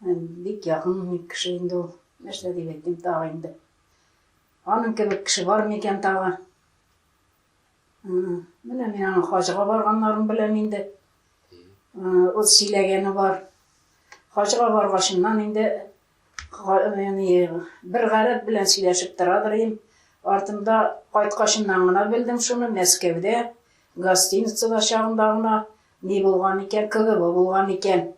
Бик якын ник кеше инде ул. Нәрсә дип әйтим тагы инде. Аның кебек кеше бар микән тагы? Менә мин аның хаҗга барганнарын беләм инде. Ул сөйләгәне бар. Хаҗга баргачыннан инде бер гарәп белән сөйләшеп торадыр идем. Артымда кайткачыннан гына белдем шуны, Мәскәүдә гостиницада чагында гына ни булган икән, КГБ булган икән.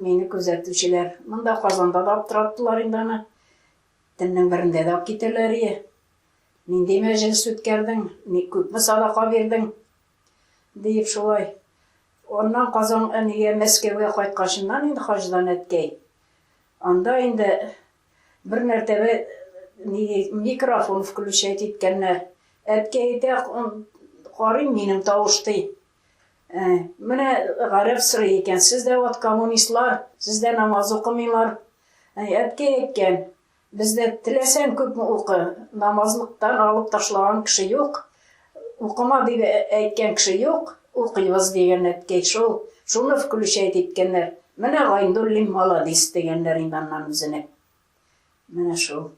Мине күзәтүчеләр монда Казанда да аптыраттылар инде аны. Төннең берендә дә китәләр ие. Нинди мәҗлес үткәрдең, ни күпме садака бирдең? диеп шулай. Аннан Казан әнигә Мәскәүгә кайткачыннан инде хаҗдан әткәй. Анда инде бер мәртәбә микрофон включать иткәннәр. Әткәй әйтә, карыйм минем тавыш ди. Ә, менә гарәп сорый икән, сез дә вот коммунистлар, сез дә намаз укымыйлар. Ә, әткәй әйткән, бездә теләсәң күпме укы, намазлыктан алып ташлаган кеше юк, укыма дип әйткән кеше юк, укыйбыз дигән әткәй шул, шуны включать иткәннәр. Менә Гайнуллин маладис дигәннәр инде аннан үзенә. Менә шул.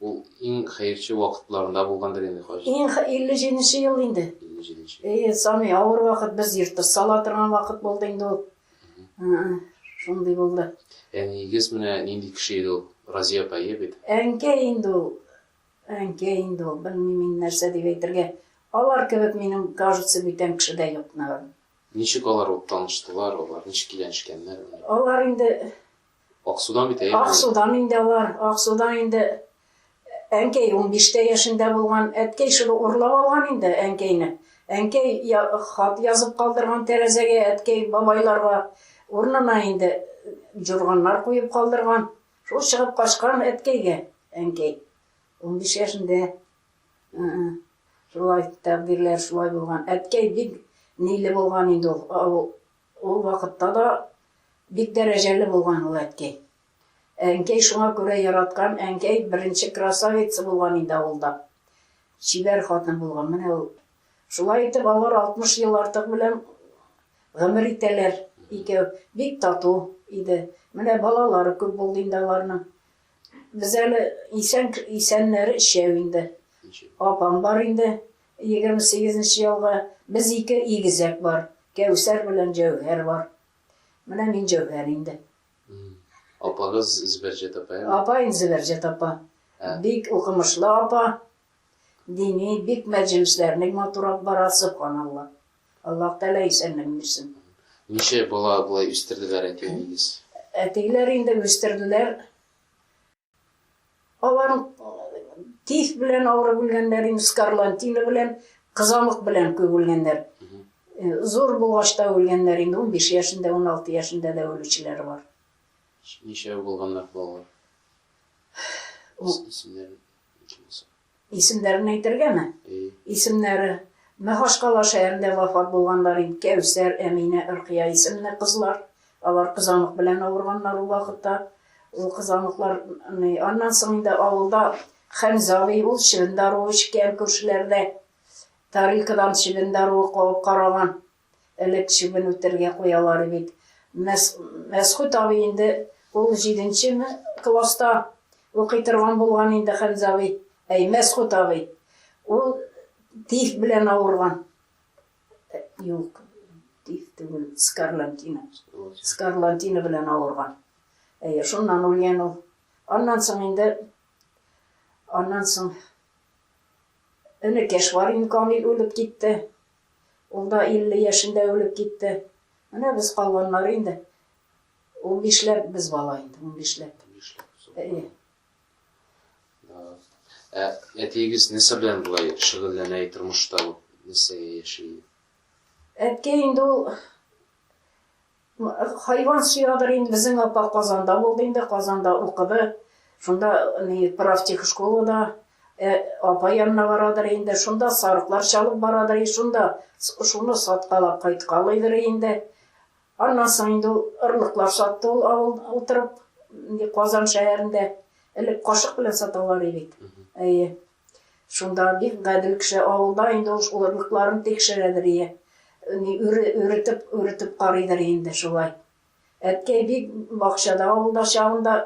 Ул иң хәерче вакытларында булгандыр инде хаҗ. Иң 57 нче ел инде. 57 нче. Әйе, самый авыр вакыт без йортта сала торган вакыт булды инде ул. Шундый булды. Әниегез менә нинди кеше иде ул? Разия апа, әйе бит? Әнкә инде ул. Әнкә инде ул. Белмим мин нәрсә дип әйтергә. Алар кебек минем, кажется, бүтән кеше дә юк, наверное. Ничек алар ул таныштылар, алар ничек киләнешкәннәр? Алар инде Аксудан бит әйе. Аксудан инде алар. Аксудан инде әнкәй унбиштә яшендә булган. Әткәй шул урлап алган инде әнкәйне. Әнкәй хат язып калдырган тәрәзәгә, әткәй бабайларга урынына инде җурганнар куеп калдырган. Шул чыгып качкан әткәйгә әнкәй. Унбиш яшендә. Шулай тәкъдирләр шулай булган. Әткәй бик ниле булган инде ул. Ул вакытта да бик дәрәҗәле булган ул әткәй. Әнкәй шуңа күрә яраткан, әнкәй беренче красавица булган инде авылда. Чибәр хатын булган, менә ул. Шулай итеп алар 60 ел артык белән гомер итәләр икәү. Бик тату иде. Менә балалары күп булды инде аларның. Без әле исән, исәннәре өчәү инде. Апам бар инде, Егерме сигезенче ялга без ике игезәк бар, Кәүсәр белән Җәүһәр бар. Менә мин Җәүһәр инде. Апагыз Зөбәрҗәт апа яме? Апаем Зөбәрҗәт апа. Бик укымышлы апа. Дини, бик мәҗлесләрнең матур алып бара, сөбханалла. Аллаһ Тәгалә исәнлеген бирсен. Ничә бала болай үстерделәр әтиеңез? Әтиләр инде үстерделәр. Алар тиф белән авырып үлгәннәр, инде скарлантина белән, кызамык белән күп үлгәннәр. Э, зур булгач та үлгәннәр, инде 15 яшендә, 16 яшендә дә үлүчеләр бар. Ничә булганнар балалар? Исемнәр Исемнәрен әйтергәме? Исемнәре, Мәхашкала шәһәрендә вафат булганнар инде, Кәүсәр, Әминә, Ркыя исемле кызлар. Алар кызамык белән авырганнар ул вакытта. Ул кызамыклар, аннан соң инде авылда Хәмзә абый, ул чебен даруы эчкән, күршеләрдә тарелкадан чебен даруы кабып караган. элек чебен үтәргә куялар иде бит. Мәсгуть абый инде ул җиденчеме класста укый торган булган инде, Хәмзә абый, әй, Мәсгуть абый, ул тиф белән авырган. Юк, тиф түгел, скарлантина. Скарлантина белән авырган. Әйе, шуннан үлгән ул. Аннан соң инде, аннан соң энекәш Варин Камил үлеп китте. Ул да 50 яшендә үлеп китте. Менә без калганнар инде. Унбишләп без бала инде, унбишләп. Әйе. Ә әтиегез нәрсә белән болай шөгыльләнә тормышта? Нәрсәгә яши? Әткәй инде ул Хайван сөягедер инде, безнең апа Казанда булды инде, Казанда укыды. Шунда профтехшколада апа янына барадыр инде, шунда сарыклар чалып барадыр, шунда шуны саткалап кайткалыйдыр инде. Аннан соң инде ул орлыклар сатты ул авыл утырып, Казан шәһәрендә. Элек кашык белән саталар иде бит. Әйе. Шунда бик гадел кеше, авылда инде ул орлыкларын тикшерәдер ие, өретеп, өретеп карыйдыр инде шулай. Әткәй бик бакчада авылда чагында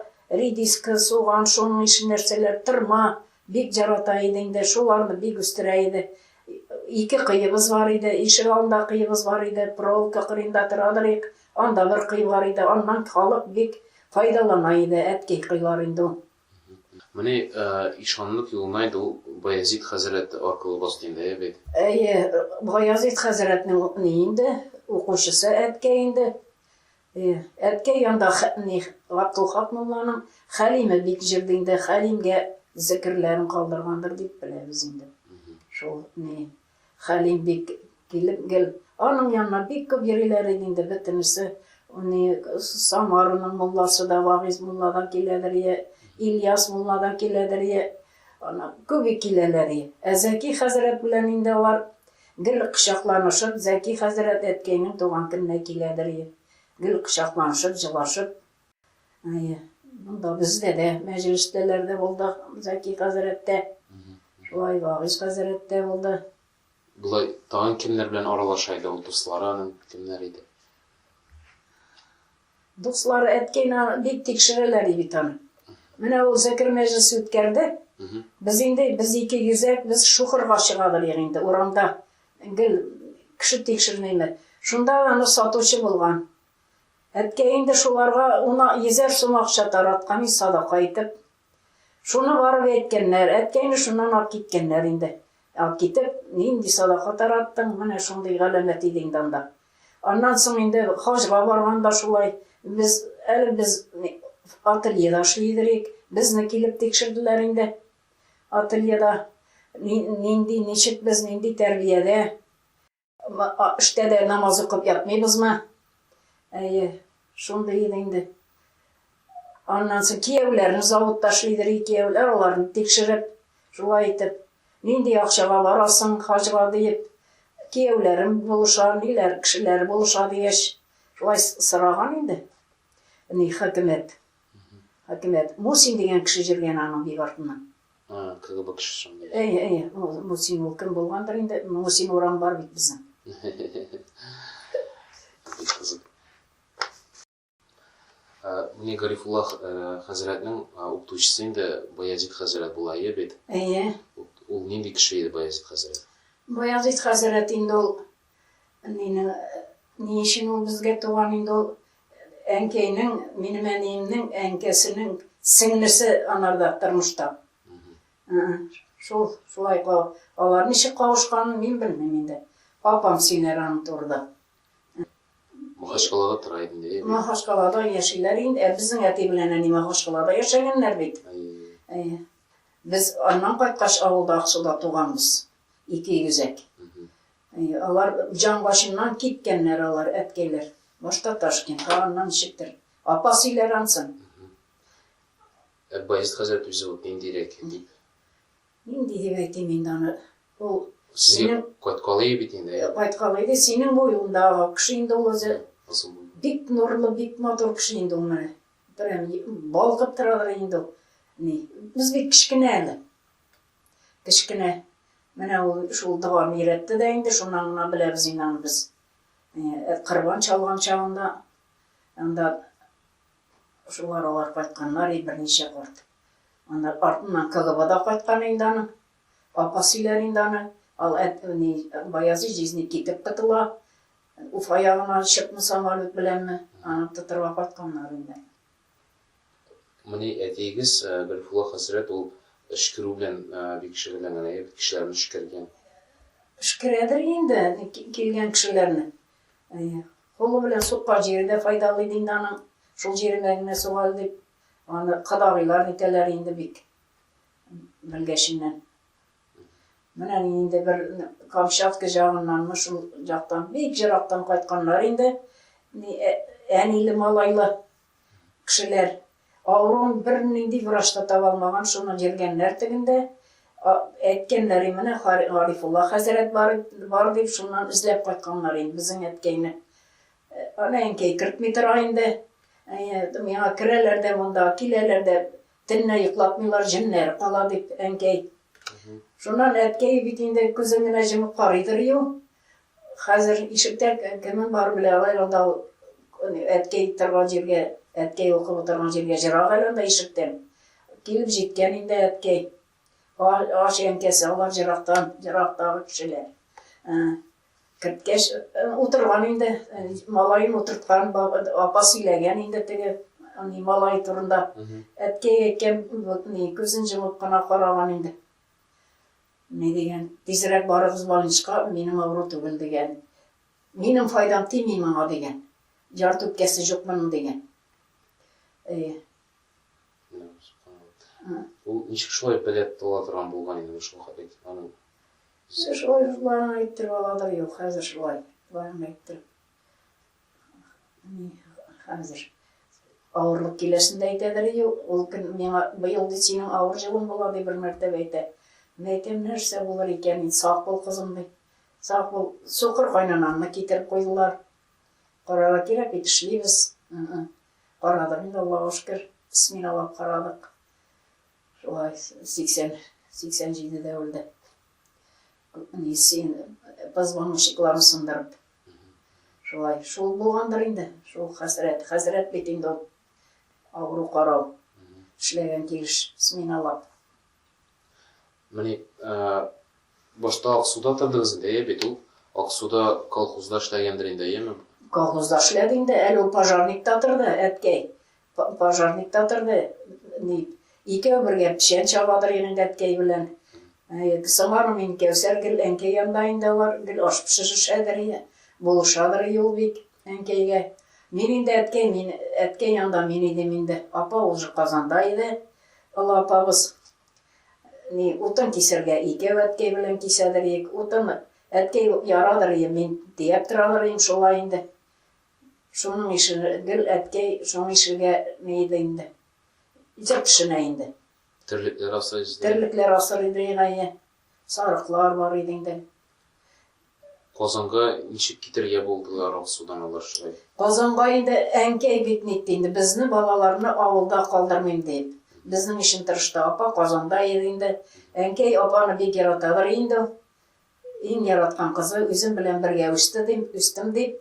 редиска, суган, шуның ише нәрсәләр, тырма бик ярата иде инде, шуларны бик үстерә иде. Ике кыебыз бар иде, ишек алында кыебыз бар иде, проволока кырыенда торадыр ик, анда бер кый бар иде, аннан халык бик файдалана иде, әткәй кыйлар инде ул. Менә ишанлык юлына инде ул Баязит хәзрәт аркылы басты инде, әйе бит? Әйе, Баязит хәзрәтнең ни инде, укучысы әткәй инде. Әткәй янда ни, Габдулхак мулланың Хәлиме бик җырды инде, Хәлимгә зекерләрен калдыргандыр дип беләбез инде. Шул ни, Хәлим бик килеп гел аның янына бик күп йөриләр иде инде бөтенесе. Ни Самараның мулласы да, Вагыйз мулла да киләдер йә Ильяс мулла да киләдер йә. Ана күп бик киләләр и. Ә Зәки хәзрәт белән инде алар гел кочакланышып, Зәки хәзрәт әткәйнең туган көненә киләдер и. Гел кочакланышып, җылашып. Әйе. Монда бездә дә мәҗлестәләр дә булды, Заки хәзрәт тә, шулай Вагыйз хәзрәт тә булды. Болай тагын кемнәр белән аралаша иде ул дуслары аның кемнәр иде? Дуслары әткәйне бик тикшерәләр иде бит аны. Менә ул зәкер мәҗлесе үткәрде. Без инде без ике йөзәк без шухырга чыгабыз инде урамда. Гел кеше тикшермәйме. Шунда аны сатучы булган. Әткәй инде шуларга уна йөзәр сум акча тараткан и садака итеп. Шуны барып әйткәннәр, әткәйне шуннан алып киткәннәр инде. Алып китеп, нинди садака тараттың, менә шундый галәмәт иде инде анда. Аннан соң инде хаҗга барганда шулай, без, әле без ательеда эшли идерик, безне килеп тикшерделәр инде. Ательеда нинди, ничек без, нинди тәрбиядә. Эштә дә намаз укып ятмыйбызмы? Әйе, шундый иде инде. Аннан соң кияүләрне заводта эшлидер, кияүләр аларны тикшереп, шулай итеп, нинди акчага барасың хаҗга диеп, кияүләрем булыша, ниләр кешеләр булыша дигәч, шулай сораган инде. Ни хакимият. Хакимият Мусин дигән кеше җөргән аның бик артыннан. А, КГБ кешесен. Әйе, әйе, ул Мусин ул кем булгандыр инде, Мусин урам бар бит безнең. Менә Гарифулла хәзрәтнең укытучысы инде Баязит хәзрәт була ие бит. Әйе. Ул нинди кеше иде Баязит хәзрәт? Баязит хәзрәт инде ул Әнинең ни өчен ул безгә туган инде ул әнкәйнең, минем әниемнең әнкәсенең сеңлесе анарда тормышта. Шул, шулай кал. Алар ничек кавышканын мин белмим инде. Апам сөйләр аның турыда. Махачкалада тора инде. Махачкалада яшиләр инде. Ә безнең әти белән әни Махачкалада яшәгәннәр бит. Без аннан кайткач авылда Аксуда туганбыз. ике йөзәк. Алар җан башыннан киткәннәр алар, әткәйләр. Башта Ташкент, аннан ничектер. Апа сөйләр ансын. Ә Баязит хәзрәт үзе вот ниндирәк дип? Нинди дип әйтим инде аны. Ул Сезгә кайткалый бит инде. Э, кайткалый ди, синең буеңдагы кеше инде ул үзе. Бик нурлы, бик матур кеше инде ул менә. Прям балкып торадыр инде ул. Ни, без бит кечкенә әле. Кечкенә менә ул шул доганы өйрәтте дә инде, шуннан гына беләбез инде аны без. Корбан чалган чагында анда шул аралар кайтканнар и берничә корт. Анда артыннан КГБда кайткан инде аны. Апа сөйләр инде аны. Ал әтне Баязи җизни китеп котыла. Уфа ягына чыкмы самолет беләнме, аны тотырга кайтканнар инде. Менә әтиегез Гарифулла хәзрәт ул өшкерү белән бик шөгыльләнгән, әйе бит, кешеләрне өшкергән. Өшкерәдер инде килгән кешеләрне. Әйе. Кулы белән суккан җире дә файдалы иде инде аның, шул җиренә генә сук әле дип, аны кодагыйлар әйтәләр инде бик белгәченнән. Менә инде бер Камчатка җагыннанмы, шул жактан, бик ерактан кайтканнар инде. Әниле, малайлы кешеләр. Авыруын бернинди врач та таба алмаган, шуны йөргәннәр тегендә. Әйткәннәр, менә Гарифулла хәзрәт бар дип, шуннан эзләп кайтканнар инде безнең әткәйне. Аны әнкәй кертми тора инде. Миңа керәләр дә монда, киләләр дә, Төнлә йоклатмыйлар, җеннәр кала, дип, әнкәй. Шуннан әткәй бит инде күзен генә җомып карыйдыр ю. Хәзер ишектә кемең бар белә алай алда ул әткәй торган җиргә, әткәй укып утырган җиргә җырак әле анда ишектән. Килеп җиткән инде әткәй. Ач әнкәсе алар җырактан, җырактагы кешеләр. Керткәч, утырган инде, малаен утырткан, апа сөйләгән инде теге ни малай турында. Әткәй әйткән, ни күзен җомып кына караган инде. Ни дигән, тизрәк барыгыз больничка, минем авыру түгел дигән. Минем файдам тими моңа дигән. Җар түткәсе җук моның дигән. Әйе. Ул ничек шулай белеп була торган булган инде шул хәтле аның Сез шулай ук барын әйттереп аладыр, юк, хәзер шулай, барын әйттереп. Ни, хәзер авырлык киләсен дә әйтәдер, юк, ул көн миңа быел ди синең авыр җылың була ди бер мәртәбә әйтә. Мин әйтәм, нәрсә булыр икән, ин сак бул кызым ди. Сак бул, сукыр кайнанамны китереп куйдылар. Карарга кирәк бит, эшлибез. Карадык инде, Аллага шөкер, сминалап карадык. Шулай 80-87 дә үлде. Ни син позвоночникларын сындырып. Шулай, шул булгандыр инде, шул хәсрәт. Хәсрәт бит инде ул. Авыру карау. Эшләгән килеш сменалап. Менә башта Аксуда тордыгыз инде, әйе бит ул? Аксуда колхозда эшләгәндер инде, әйеме? Колхозда эшләде инде, әле ул пожарникта торды, әткәй. Пожарник та торды, дип. Икәү бергә печән чабадыр инде әткәй белән. Соңар мин Кәүсәр гел әнкәй янда инде алар, гел аш пешерешәдер, булышадыр юл бик әнкәйгә. Мин инде әткәй, мин әткәй янда мин идем инде. Апа уже Казанда иде. Олы апабыз ни утын кисергә икәү әткәй белән кисәдер ик. Утын әткәй ярадыр, мин тияп торадыр ин шулай инде. Шуның ишел гел әткәй шуның ишелгә ни иде инде. Җыр пешенә инде. Терлекләр асрый иде. Терлекләр асрый иде инае. Сарыклар бар иде инде. Казанга ничек китергә булдылар Аксудан алар шулай? Казанга инде әнкәй бит нитте инде, безне балаларны авылда калдырмыйм дип. Безнең ишен тырышты, апа Казанда иде инде. Әнкәй апаны бик яратадыр инде ул. Иң яраткан кызы, үзем белән бергә үсте дим, үстем дип.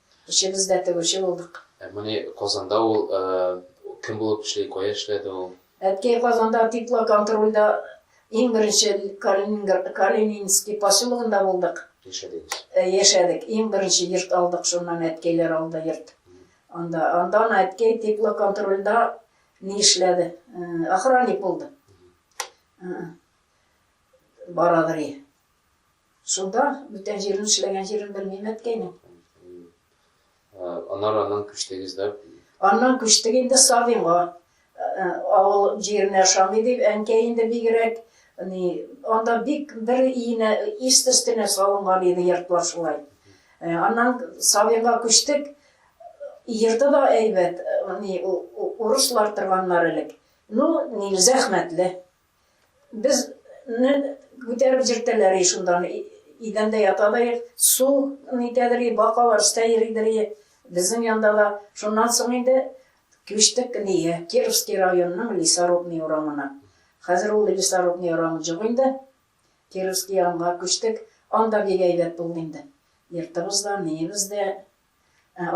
Өчебез дә тегүче булдык. Ә моны Казанда ул кем булып эшли, кая эшләде ул? Әткәй Казанда теплоконтрольдә иң беренче Калининград, Калининский поселогында булдык. Яшәдегез? Яшәдек. Иң беренче йорт алдык, шуннан әткәйләр алды йорт. Анда, андан әткәй теплоконтрольдә ни эшләде? Охранник булды. Барадри. Шунда, бүтән җирен эшләгән җирен белмим әткәйнең. Аннары аннан күчтегез дә? Аннан күчтек инде Савинга. Авыл җиренә ошамый дип, әнкәй инде бигрәк, ни, анда бик бер иенә, ист өстенә салынган иде йортлар шулай. Аннан Савинга күчтек, йорты да әйбәт, ни, урыслар торганнар элек. Ну, ни, зәхмәтле. Без не күтәреп җиртәләр и шунда не идәндә ята да и су не итәдер и бакалар өстә йөридер и безнең янда да шуннан соң инде күчтек не кировский районның лесорубный урамына хәзер ул лесорубный урамы җук инде кировский янга күчтек анда бик әйбәт булды инде йортыбыз да неебез дә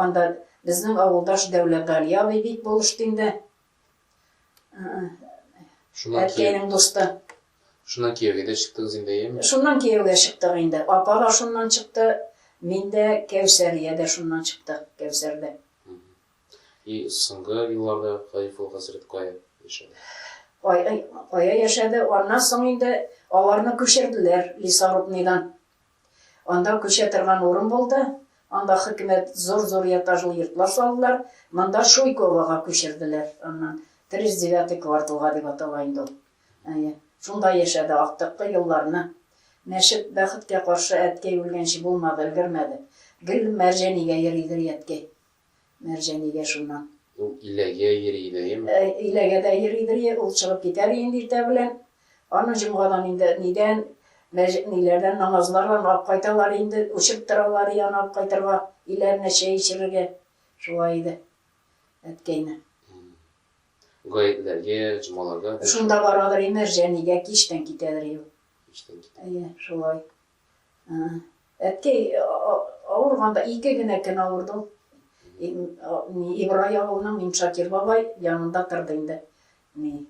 анда безнең авылдаш дәүләт гали абый бик булышты инде Шуннан Әткәйнең дусты. Шуннан кияүгә дә чыктыгыз инде, әйеме? Шуннан кияүгә чыктык инде. Апа да шуннан чыкты, мин дә, Кәүсәрия дә шуннан чыктык, Кәүсәр дә. И соңгы елларда Каифул хәзрәт кая яшәде? Кая яшәде? Аннан соң инде аларны күчерделәр Лисарубныйдан. Анда күчә торган урын булды, анда хөкүмәт зур-зур этажлы йортлар салдылар, монда Шуйковога күчерделәр, аннан, тридцать девятый кварталга дип атала инде ул. Әйе, шунда яшәде актыккы елларны. Мәчет, бәхеткә каршы, әткәй үлгәнче булмады, өлгермәде. Гел Мәрҗәнигә йөридер әткәй. Мәрҗәнигә шуннан. Ул иләгә йөри иде, әйеме? Әй, иләгә дә йөридер, йә, ул чыгып китәр иде инде иртә белән. Аны җомгадан инде нидән, мәҗ, ниләрдән, намазлардан алып кайталар инде, үчеп торалар иде аны алып кайтырга, өйләренә чәй эчерергә. Шулай иде. Әткәйне. М-м. Гаетләргә, җомгаларга, дә. Шунда барадыр и Мәрҗәнигә, кичтән китәдер и ул. Кичтән китә. Әйе, шулай. Әткәй авырганда ике генә көн авырдым. Ибрай авылының Миншакир бабай янында торды инде. Ни,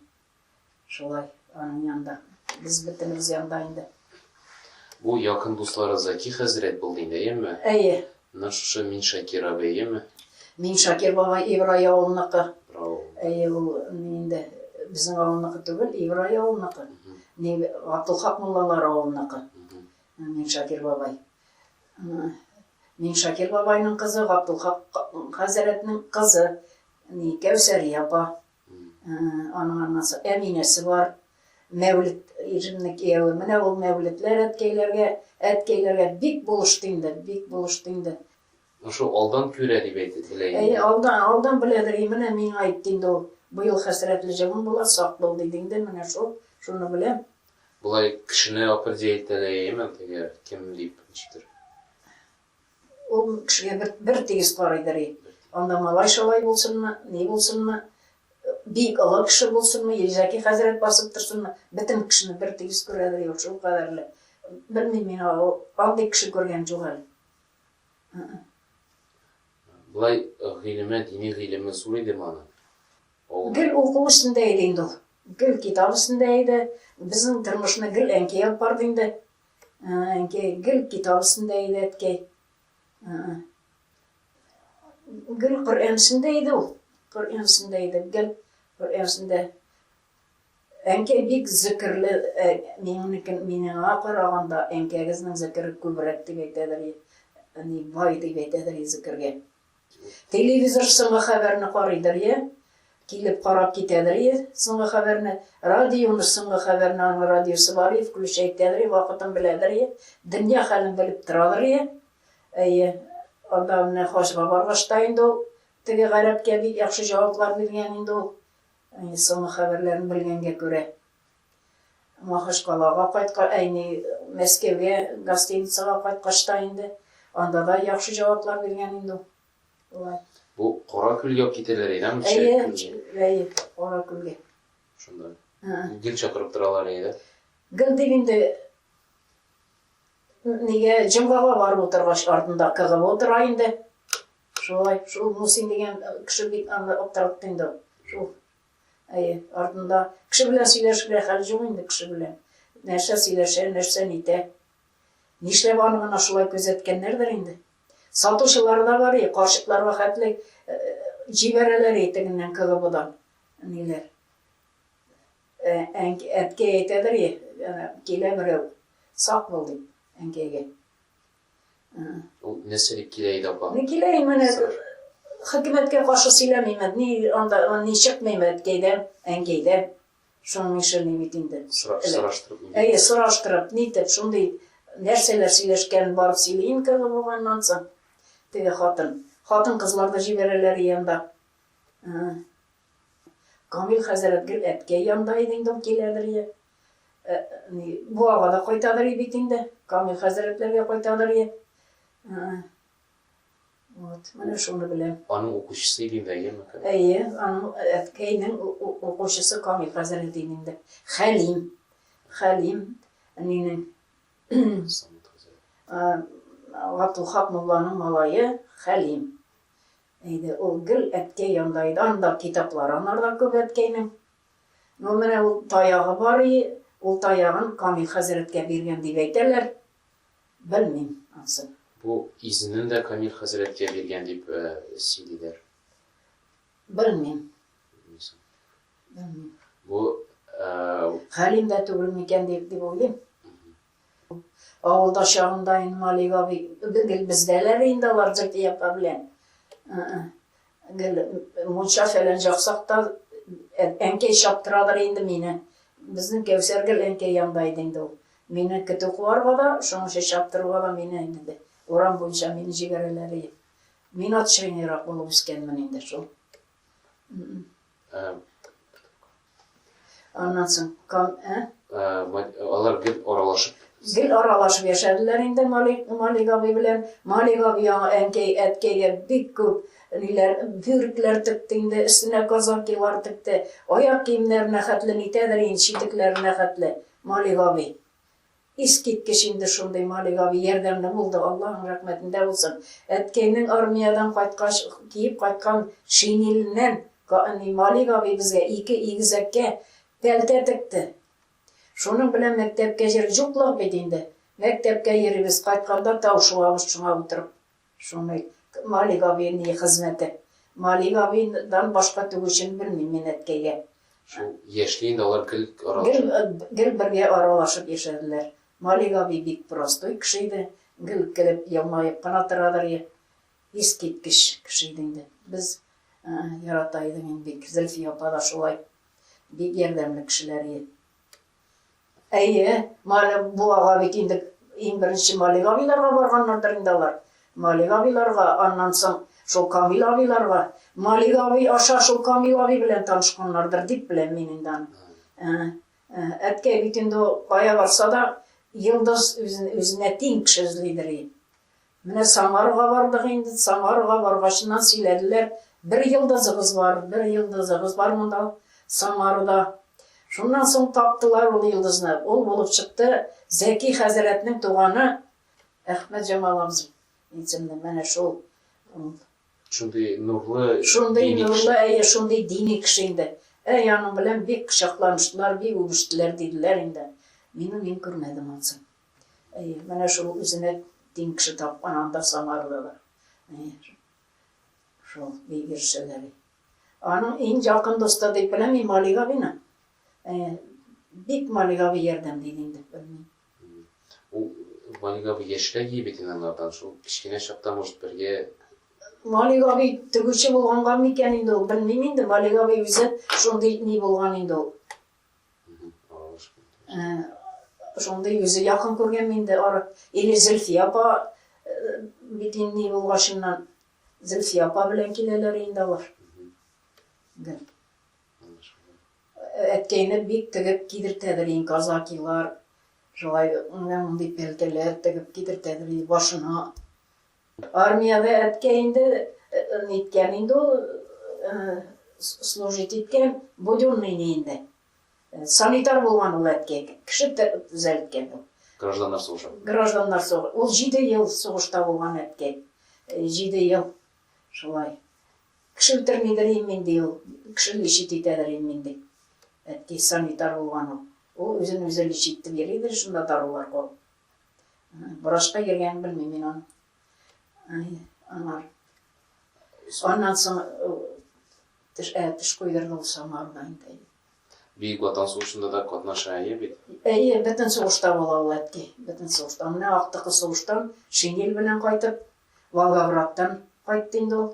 шулай, аның янында. Без бөтенебез янда инде. Бу якын дуслары Заки хәзрәт булды инде, әйеме? Әйе. Менә шушы Мин Шакир абыеме? Мин Шакир бабай Ибрай авылыныкы. Әйе, ул инде безнең авылныкы түгел, Ибрай авылныкы. Ни Габдулхак муллалар авылныкы. Мин Шакир бабай. Мин Шакир бабайның кызы, Габдулхак хәзрәтнең кызы. Ни Кәүсәрия апа. Аның аннасы әнинәсе бар. Мәүлет иржемнең кияве. Менә ул Мәүлетләр әткәйләргә, әткәйләргә бик булышты инде, бик булышты инде. Шо алдан күрә дип әйтәтелә инде. Әйе, алдан, алдан беләдер. И менә миңа әйтте инде ул. Быел хәсрәтле җылың була, сак бул, диде инде. Менә шул, шуны беләм. Болай кешене определитләйме, әгәр кем дип, ничектер? Ул кешегә бер, бер тигез карыйдыр и. Анда малай-шалай булсынмы, ни булсынмы, бик олы кеше булсынмы, Илзәки хәзрәт басып торсынмы, бөтен кешене бер тигез күрәдер и ул, шул кадәрле. Белмим мин аңа, ул, андый кеше күргән юк әле. Ы-ы. Болай гыйлеме, дини гыйлеме зур идеме аның? Авылда. Гел уку өстендә иде инде ул. Гел китап өстендә иде. Безнең тормышны гел әнкәй алып барды инде. Әнкәй, гел китап өстендә иде әткәй. Гел Коръән өстендә иде ул. Коръән өстендә иде, гел Коръән өстендә. Әнкәй бик зөкерле, минекен минега караганда әнкәгезнең зөкере күбрәк дип әйтәдер. Әни бай дип әйтәдер зөкергә. Телевизор соңгы хәбәрне карыйдыр йә килеп карап китәдер йә соңгы хәбәрне, радионы соңгы хәбәрне аның радиосы бар йә включай итәдер йә вакытын беләдер йә дөнья хәлен белеп торадыр йә. Әйе, анда менә хаҗга баргач та инде ул теге гарәпкә бик яхшы җаваплар биргән инде ул соңгы хәбәрләрен белгәнгә күрә. Махачкалага кайткач, әйни Мәскәүгә гостиницага кайткач та инде, анда да яхшы җаваплар биргән инде ул. Болай. Бу Кара күлгә үк китәләр иде, әйеме? Әйе, әйе, Кара күлгә. Шунда. Гел чакырып торалар иде, дә? Гел дип инде нигә җомгага барып утыргач, артында КГО тора инде. Шулай, шул Мусин дигән кеше бик аны аптыратты инде. Шул Әйе, артында. Кеше белән сөйләшергә хәл җук инде кеше белән. Нәрсә сөйләшә, нәрсә нитә. Нишләп аны гына шулай күзәткәннәрдер инде. Сатучылар да бар, и, карчыкларга хәтле җибәрәләр и тегеннән КГБдан. Ниләр. Әткәй әйтәдер и, килә берәү. Сак бул дип, әнкәйгә. Ул нәрсә дип килә иде апа? Ни килә инде менә хөкүмәткә каршы сөйләмимен, ни анда ни чыкмыймы әткәйдә, әнкәйдә. Шуның эше ни бит инде. Сораштырып. Әйе, сораштырып, нитеп, шундый нәрсәләр сөйләшкәнен барып сөйли инде булганнан соң теге хатын. Хатын-кызлар да җибәрәләр янда. Камил хәзрәт гел әткәй янда иде инде, киләдер, Буага да кайтадыр и бит инде. Камил хәзрәтләргә кайтадыр и. Вот, менә шуны беләм. Аның укучысы Илин Рәйеме? Әйе, аның әткәйнең укучысы Камил хәзрәт иде инде. Хәлим. Хәлим әнинең Гатулхак мулланың малае Хәлим. Әйде, ул гел әткәй янда иде. Анда китаплар анарда күп әткәйнең. Ну, менә ул таягы бар и, ул таягын Камил хәзрәткә биргән дип әйтәләр. Белмим ансын. Бу изенен дә Камил хәзрәткә биргән дип сөйлиләр. Белмим. Белмисең. Белмим. Бу Хәлим дә түгел микән дип уйлыйм. Авылда чагында инде Малик абый, гел бездәләр инде алар Җәкиякә белән. Гел мунча фәлән җаксакта әнкәй чаптырадыр инде мине. Безнең Кәүсәр гел әнкәй янда иде инде ул. Мине көтү куарга да, шуның өчен чаптыруга да мине инде урам буенча мине җибәрәләр иде. Мин ат чыйныйрак булып үскәнмен инде шул. Аннан соң кан, ә? Алар гел аралашып. Гел аралашып яшәделәр инде Малик, Малик абый белән. Малик абый яңа әнкәй, әткәйгә бик күп ниләр, бүркләр текте инде, өстенә казакилар текте. Аяк киемнәренә хәтле нитәдер инде, читекләренә хәтле Малик абый. Искиткеч инде шундый Малик абый, ярдәмле булды, Аллаһың рәхмәтендә булсын. Әткәйнең армиядән кайткач киеп кайткан шинеленнән Малик абый безгә ике игезәккә пәлтә текте. Шуның белән мәктәпкә йөрдек. Җуклык бит инде. Мәктәпкә йөрибез, кайтканда тау шуабыз шуңа утырып. Шуны Малик абый ни хезмәте. Малик абыйдан башка тегүчене белмим мин әткәйгә. Шул яшьли инде алар гел аралашып. Гел бергә аралашып яшәделәр. Малик абый бик простой кеше иде, гел көлеп, елмаеп кына торадыр. Искиткеч кеше иде инде. Без ярата идек инде бик. Зөлфия апа да шулай. Бик ярдәмле кешеләр иде. Әйе, Мале буага бит инде иң беренче Малек абыйларга барганнардыр инде алар. Малек абыйларга, аннан соң шул Камил абыйларга. Малек абый аша шул Камил абый белән танышканнардыр дип беләм мин инде аны. Ә, ә, Әткәй бит инде ул кая барса да, йолдыз үзен, үзенә тиң кеше эзлидер и. Менә Самарага бардык инде, Самарага баргачыннан сөйләделәр, бер йолдызыгыз бар, бер йолдызыгыз бар монда, Самарада. Шуннан соң таптылар ул йолдызны, ул булып чыкты, Зәки хәзрәтнең туганы Әхмәтҗамал абзый исемле, менә шул. Шундый нурлы, дини кеше. Шундый нурлы, әйе, шундый дини кеше инде. Әй, аның белән бик кочакланыштылар, бик үбештеләр, диделәр инде. Мине мин күрмәдем ансын. Әйе, менә шул үзенә тиң кеше тапкан анда Самарада да. Әйе, шул Бигер Шәләби. Аның иң якын дусты дип беләм мин Малик абыйны. Әйе, бик Малик абый ярдәм ди инде, белмим. Ул Малик абый яшьрәк ие бит анардан, шул кечкенә чакта, может, бергә Малик абый тегүче булганга микән инде ул, белмим инде, Малик абый үзе шундый ни булган инде ул. Шундый үзе якын күргән инде арып. Или Зөлфия апа бит инде булгачыннан Зөлфия апа белән киләләр инде алар. Әткәйне бик тегеп кидертәдер ин казакилар. Шулай мондый пәлтәләр тегеп кидертәдер башына. Армиягә әткәй инде ниткән инде ул служить иткән, буденный ни инде. Санитар булган ул әткәй, кеше төзәлткән ул. Гражданнар сугышы. Гражданнар сугышы. Ул җиде ел сугышта булган әткәй. Җиде ел шулай. Кеше үтермидер инде инде ул. Кеше лечить итәдер инде инде. Әткәй санитар булган ул. Ул үзен үзе лечить итеп йөридер шунда дарулар куып. Врачка йөргәнен белмим мин аның. Аңар. Аннан соң теш, ә, теш куйдырды ул самарда инде. Бөек Ватан сугышында да катнаша, әйе бит? Әйе, бөтен сугышта була ул әтки, бөтен сугышта. Менә актыкы сугыштан шинель белән кайтып, Волгоградтан кайтты инде ул.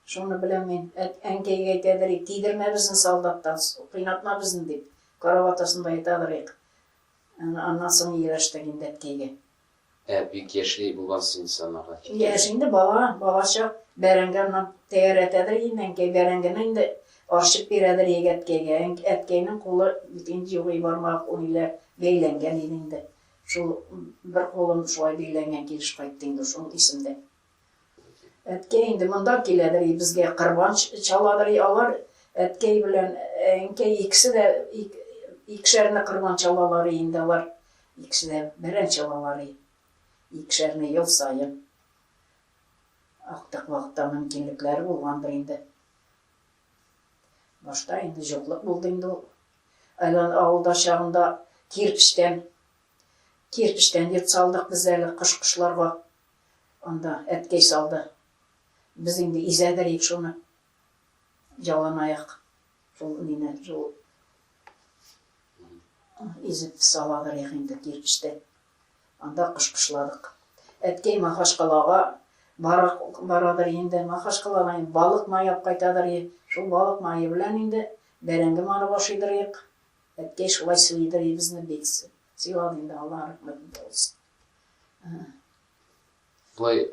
Шуны беләм мин. Әнкәйгә әйтәдер, тидермә безне солдаттан, кыйнатма безне дип, карават астында ятадыр ик. Аннан соң ияләштек инде әткәйгә. Ә бик яшьли булгансың ис анага киткәндә. Яшь инде, бала, балачак. Бәрәңге аннан тәгәрәтәдер инде әнкәй, бәрәңгене инде арчып бирәдер иде әткәйгә. Әткәйнең кулы бит инде юк, и бармак униләр бәйләнгән иде инде. Шул бер кулын шулай бәйләнгән килеш кайтты инде, шул исемдә. Әткәй инде монда киләдер и безгә кырбан чаладыр и алар әткәй белән әнкәй икесе дә икешәрне кырбан чалалар и инде алар икесе дә бәрән чалалар и икешәрне ел саен актык вакытта мөмкинлекләре булгандыр инде башта инде җоклык булды инде ул айлан авылда чагында кирпечтән кирпечтән йорт салдык без әле кош кошларга Анда әткәй салды. Без инде изәдер ик шуны, яланаяк шул мине шул изеп саладыр ик инде кирпечтән. Анда кышкышладык. Әткәй Махашкалага барадыр инде. Махашкалага балык маяп кайтадыр ик. Шул балык мае белән инде бәрәңге манып ашыйдыр ик. Әткәй шулай сыйдыр ик безне бик сыйлады инде, Аллага рәхмәт булсын. Болай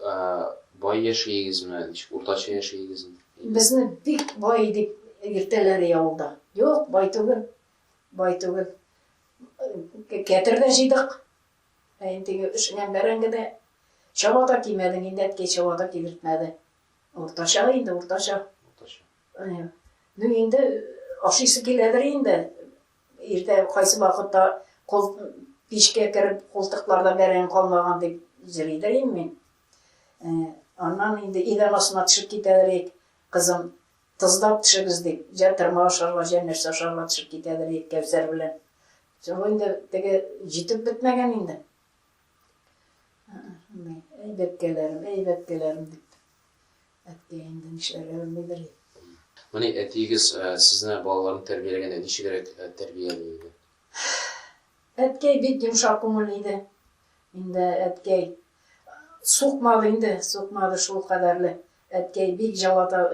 бай яшәйегезме, ничек уртача яшәйегезме? Безне бик бай дип йөртәләр авылда. Юк, бай түгел. Бай түгел. Кәтер дә җыйдык. Ә инде өшегән бәрәңге дә чаба да кимәдең, инде әткәй чаба да кимертмәде. Уртача инде, уртача. Уртача. Ну инде ашыйсы киләдер инде. Иртә кайсы вакытта кол пичкә кереп култыкларда бәрәңге калмаган дип җыри да идем мин. Аннан инде идән астына төшеп китәдер идек, кызым, тозлап төшегез дип, җә тырма ашарга, җә нәрсә ашарга төшеп китәдер идек Кәүсәр белән. Соң инде теге җитеп бетмәгән инде. Әй бәбкәләрем, әй бәбкәләрем дип. Әткәй инде нишләргә белмидер и. Менә әтиегез сезне балаларын тәрбияләгәндә ничегрәк тәрбияли иде? Әткәй бик йомшак күңелле иде. Инде әткәй сукмады инде, сукмады шул кадәрле. Әткәй бик җылата,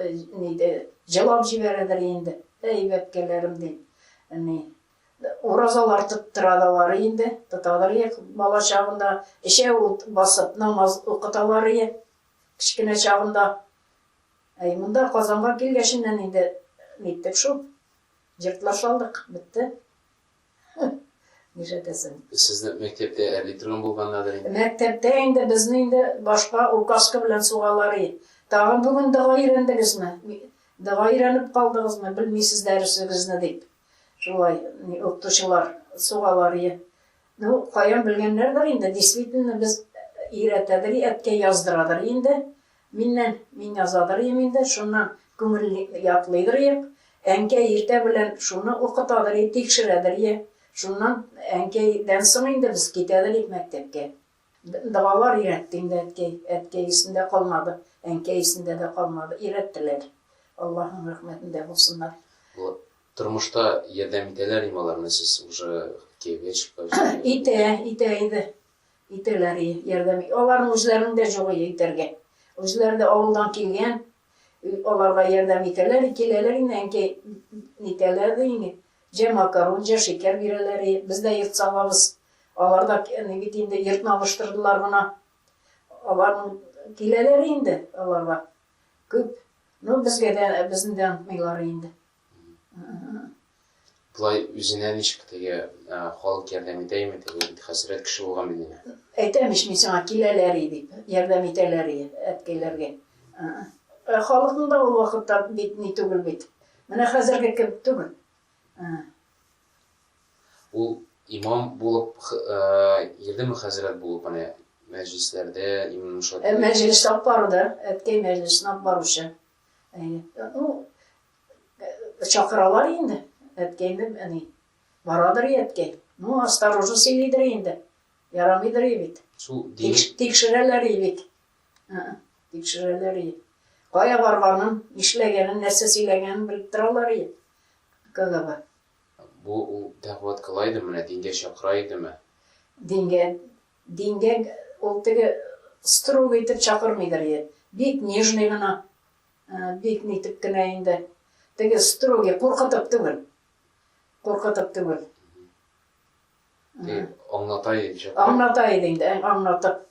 нидә, җылап җибәрәдер инде. Әй, бәбкәләрем, дип, ни, уразалар тоттыра да алар инде, тотадыр и, бала чагында эчәү басып намаз укыталар и, Кечкенә чагымда, әй, монда Казанга килгәченнән инде ниттек шул, җыртлар салдык, бетте. Нишләтәсең. Сезне мәктәптә әби торган булганнадыр инде? Мәктәптә инде безне инде башка указка белән сугалар и. Тагын бүген дога өйрәндегезме, дога өйрәнеп калдыгызмы, белмисез дәресегезне дип, шулай укытучылар сугалар и. Ну, каян белгәннәрдер инде, действительно, без өйрәтәдер, әткәй яздырадыр инде, миннән, мин язадыр идем инде, шуннан күңел ятлыйдыр идек. Әнкәй иртә белән шуны укытадыр иде, тикшерәдер иде. Шуннан әнкәйдән соң инде без китәдер идек мәктәпкә. Балалар өйрәтте инде әткәй. Әткәй исендә калмады, әнкәй исендә дә калмады. Өйрәттеләр. Аллаһның рәхмәтендә булсыннар. Вот тормышта ярдәм итәләр име алар, менә сез уже кияүгә чыккач? Итә, итә иде. Итәләр и, ярдәм. Аларның үзләренең дә юк и итәргә. Үзләре дә авылдан килгән. Аларга ярдәм итәләр и, киләләр инде әнкәй, нитәләр дә инде. Җә макарон, җә шикәр бирәләр, и, без дә ертса алабыз. Алар да ни бит инде, йортны алыштырдылар гына. Аларның киләләр инде, алар да күп. Ну, безгә дә, безне дә онытмыйлар инде. Болай үзенә ничек теге халык ярдәм итәме, теге бит хәсрәт кеше булган бит инде. Әйтәм ич мин сиңа, киләләр и дип, ярдәм итәләр и әткәйләргә. Халыкның да ул вакытта бит ни түгел бит. Менә хәзерге кебек түгел. Ул имам булып, йөрдеме хәзрәт булып, менә мәҗлесләрдә, имам шат. Ә мәҗлес алып барды, әткәй мәҗлесен алып баручы. Ну, чакыралар инде, әткәйне, әни. Барадыр әткәй. Ну, осторожно сөйлидер инде. Ярамыйдыр бит. Тикшерәләр бит. Тикшерәләр иде. Кая барганын, нишләгәнен, нәрсә сөйләгәнен белеп торалар иде. КГБ. Бу ул Тәгъват кыла идеме, менә дингә чакыра идеме? Дингә, дингә ул теге строго итеп чакырмыйдыр иде. Бик нежный гына, бик нитеп кенә инде. Теге строгий, куркытып түгел. Куркытып түгел. дип аңлата иде шәп. Аңлата иде инде, аңлатып.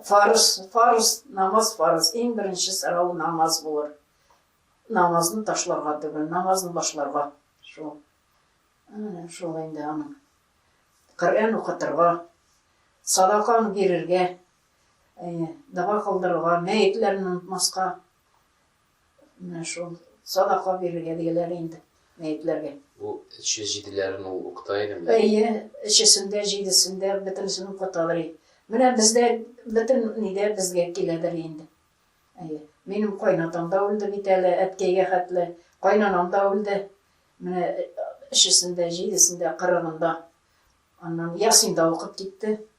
Фарыз, фарыз, намаз фарыз. Иң беренче сорау намаз булыр. Намазны ташларга түгел, намазны башларга. Шул. Шул инде аның. Коръән укытырга, садаканы бирергә, дога кылдырырга, мәетләрне онытмаска. Менә шул, садака бирергә диеләр инде мәетләргә. Бу эче җиделәрен ул укыта идеме? Әйе, эчесен дә, җидесен дә, бөтенесен укыталар и. Менә бездә бөтен ни дә безгә киләдер инде. Әйе. Минем кайнатам да үлде бит әле, әткәйгә хәтле. Кайнанам да үлде. Менә эчесен дә, җидесен дә, кырыгын да. Аннан Ясин да укып китте.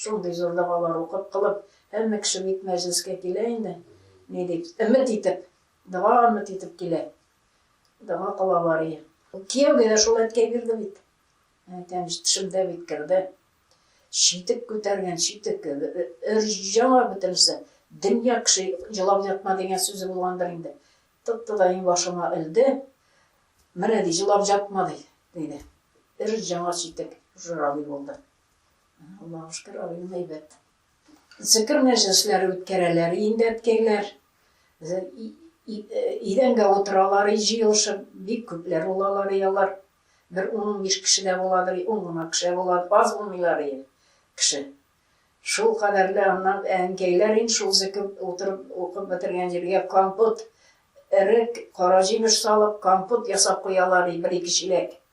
Шундый зур догалар укып кылып, һәммә кеше бит мәҗлескә килә инде, ни дип, өмет итеп, дога өмет итеп килә. Дога кылалар и. Кияүгә дә шул әткәй бирде бит. Әйтәм, тешемдә бит керде. Читек күтәргән, читек, өр-җа бөтенесе. Дөнья кеше җылап ятма дигән сүзе булгандыр инде. Тотты да иңбашыма элде. Менә ди, җылап ятма ди, диде. Өр-җа читек, журавль булды. Аллаһыга шөкер, район әйбәт. Зикер мәҗлесләре үткәрәләр, имбәткәйләр. Идәнгә утыралар, җыелышып, бик күпләр булалар и алар. Бер ун-унбиш кеше дә буладыр, ун гына кеше була, аз булмыйлар и кеше. Шул кадәрле аннан әнкәйләр ин шул зикер утырып укып бетергән җиргә компот, эрек, кара җимеш салып, компот ясап куялар и бер-ике чиләк.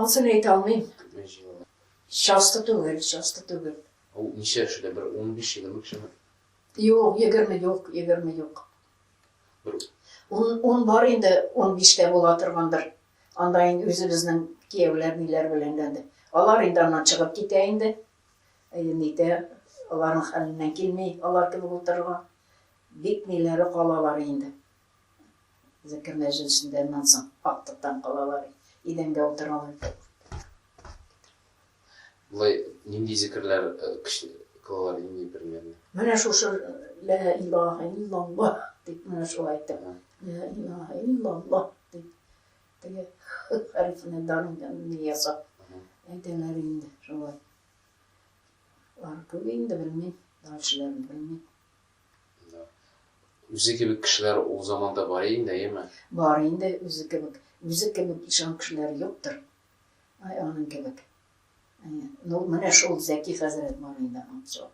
Ансын әйтә алмыйм. Күпме җыелма? Часто түгел, часто түгел. Ул ничә яшьле? Бер унбиш, егерме кешеме? Юк, егерме юк, егерме юк. Бер... Ун, ун бар инде, унбиш тә була торгандыр. Анда инде үзебезнең кияүләр, ниләр белән дә. Алар инде аннан чыгып китә инде. Әйе, нитә, аларның хәленнән килми, алар кебек утырырга. Бик ниләре калалар инде. Зәкер мәҗлесендә аннан соң актыктан калалар, идәнгә утыралар. Болай нинди зикерләр көчле кылалар инде бермәлне? Менә шушы лә илаһа иллаллаһ дип менә шулай әйтеп, лә илаһа иллаллаһ дип теге хәрефне дарыннан ясап әйтәләр инде шулай. Бар күп инде белмим, дәүшләрен белмим. Үзе кебек кешеләр ул заманда бар инде, әйеме? Бар инде, үзе кебек. Үзе кебек ишан кешеләр юктыр. Ай, аның кебек. Ну, менә шул Зәки хәзрәт бар инде ансы.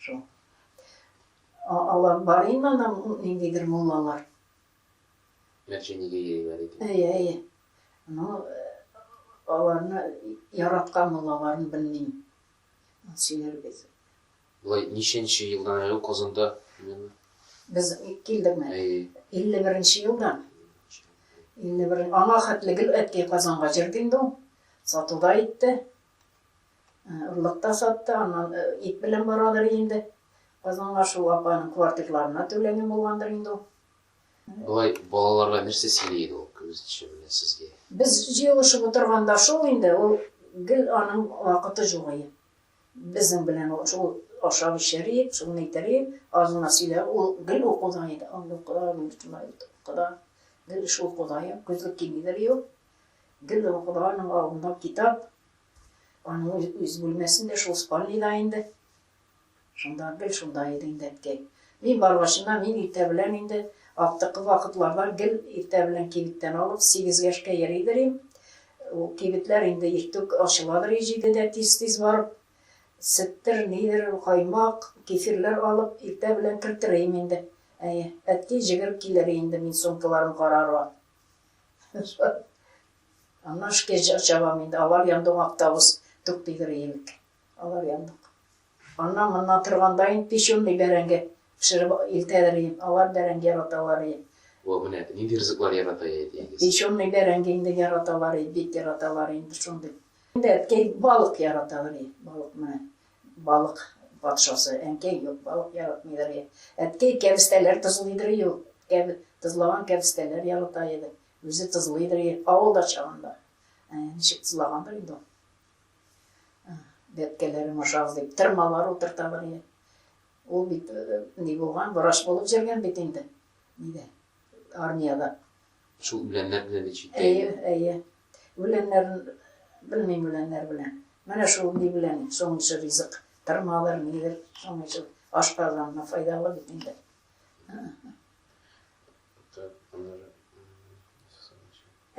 Шул. Алар бар инде анда ниндидер муллалар. Мәченеге йөриләр иде. Әйе, әйе. Ну, аларны яраткан муллаларын белмим. Сөйләрбез. Болай ничәнче елдан әле ул Казанда именно? Без килдекме? Әйе. 51 нче елдан. 51 аңа хәтле гел әткәй Казанга җөрде инде ул. Сатуда итте. Орлык та сатты, аннан ит белән барадыр инде. Казанга шул апаның квартирларына түләнгән булгандыр инде ул. Болай балаларга нәрсә сөйли иде ул, кем үзенчә менә сезгә? Без җыелышып утырганда шул инде, ул гел аның вакыты юк ие. Безнең белән ул шул ашап эчәр ие, шуны әйтер ие, азына сөйләр, ул гел укуда иде, андый укуда, мондый шулай укуда, гел эш укуда ие, күзлек кимидер ие ул. Гел укуда, аның алдында китап, аның үз бүлмәсендә, шул спальныйда инде. Шунда, гел шунда иде инде, әткәй. Мин баргачына, мин иртә белән инде, актыкы вакытларда гел иртә белән кибеттән алып, сигез яшькә йөридер им. Ул кибетләр инде иртүк ачыладыр и җидедә тиз-тиз барып, сөттер, нидер, каймак, кефирләр алып, иртә белән кертер им инде. Әйе, әткәй җигереп килер инде, мин сумкаларын карарга. Аннан эшкә чабам инде, алар янда ук автобус туктыйдыр имек. Алар яндык. Аннан моннан торганда инде печённый бәрәңге пешереп илтәләр иде. Алар бәрәңге яраталар иде. Вау, менә нинди ризыклар ярата иде әтиегез. Печённый бәрәңге инде яраталар иде, бик яраталар инде шундый. Инде әткәй балык яраталар иде. Балык менә, балык патшасы. Әнкәй юк, балык яратмыйдыр иде. Әткәй кәбестәләр тозлыйдыр иде ул. Кәб, тозлаган кәбестәләр ярата иде. Үзе тозлыйдыр иде, авылда чагында. Ә ничек тозлагандыр инде ул. Бәбкәләрем ашагыз дип, тырмалар утырталар иде. Ул бит э, ни булган, врач булып җөргән бит инде. Нидә? Армиядә. Шул үләннәр белән бит читтә. Әйе, әйе. Үләннәрен белмим үләннәр белән. Менә шул ни белән соңгы ризык. Тырмалар нидер соңгы шул ашказанына файдалы бит инде.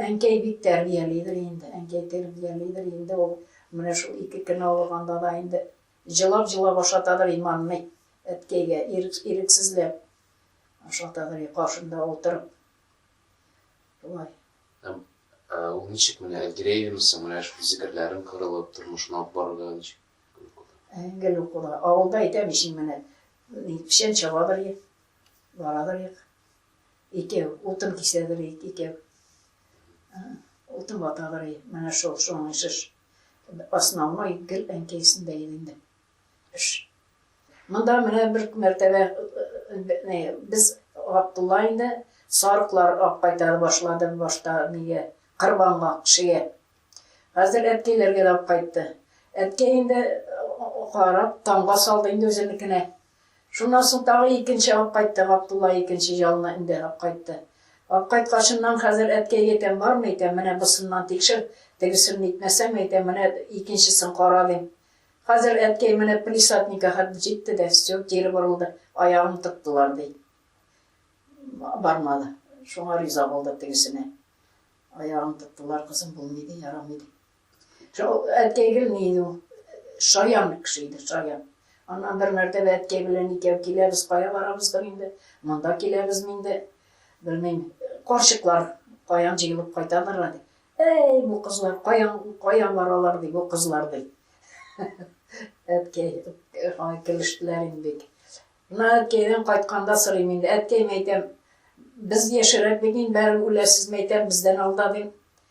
Әнкәй бик тәрбиялидер инде, әнкәй тербиялидер инде ул, менә шул ике көн авырганда да инде җылап-җылап ашатадыр иманны, әткәйгә ирек, ирексезләп ашатадыр и каршында утырып. Шулай. Һәм ә, ул ничек менә өлгерә идеме соң, менә шул зикерләрен кырылып, тормышын алып барырга ничек? Әңгел укуда. Авылда әйтәм ич менә, печән чабадыр ек, барадыр ек. Икәү, утын кисәдер ик, икәү. Утын ватадыр и, менә шул, шуның ише ш. Основной гел әнкәйсендә иде инде. Ш. Монда менә бер мәртәбә без Габдулла инде сарыклар ак кайтара башлады башта нигә, кырбанга, кешегә. Хәзер әткәйләргә дә алып кайтты. Әткәй инде карап, тамга салды инде үзенекенә. Шуннан соң тагы икенче алып кайтты, Габдулла икенче җалны эндәр апкайтты. Апкайткачыннан, Хәзер әткәй әйтәм, бармы икән, менә босыннан тикшер, тегесен нитмәсәң, әйтәм, менә икенчесен кара, дим. Хәзер әткәй менә палисадникка хәтле җитте дә, все, кире борылды, аягын тыктылар, ди. Бармады. Шуңа риза булды тегесенә. Аягын тыктылар, кызым, булмый, ди, ярамый, ди. Шул әткәй гелме иде ул? Шаян кеше иде, шаян. Аннан бер мәртәбә әткәй белән икәү киләбез, кая барабыздыр инде, монда киләбезме инде, белмим, карчыклар каян җыелып кайтадыр әле. Әй, бу кызлар каян, каян баралар ди, бу кызлар ди. Әткәй, һай килештеләр инде бик. Мына әткәйдән кайтканда сорыйм инде, әткәй мәйтәм, без яшерәк бит инде, бәрем үләсез мәйтәм, бездән алда дим.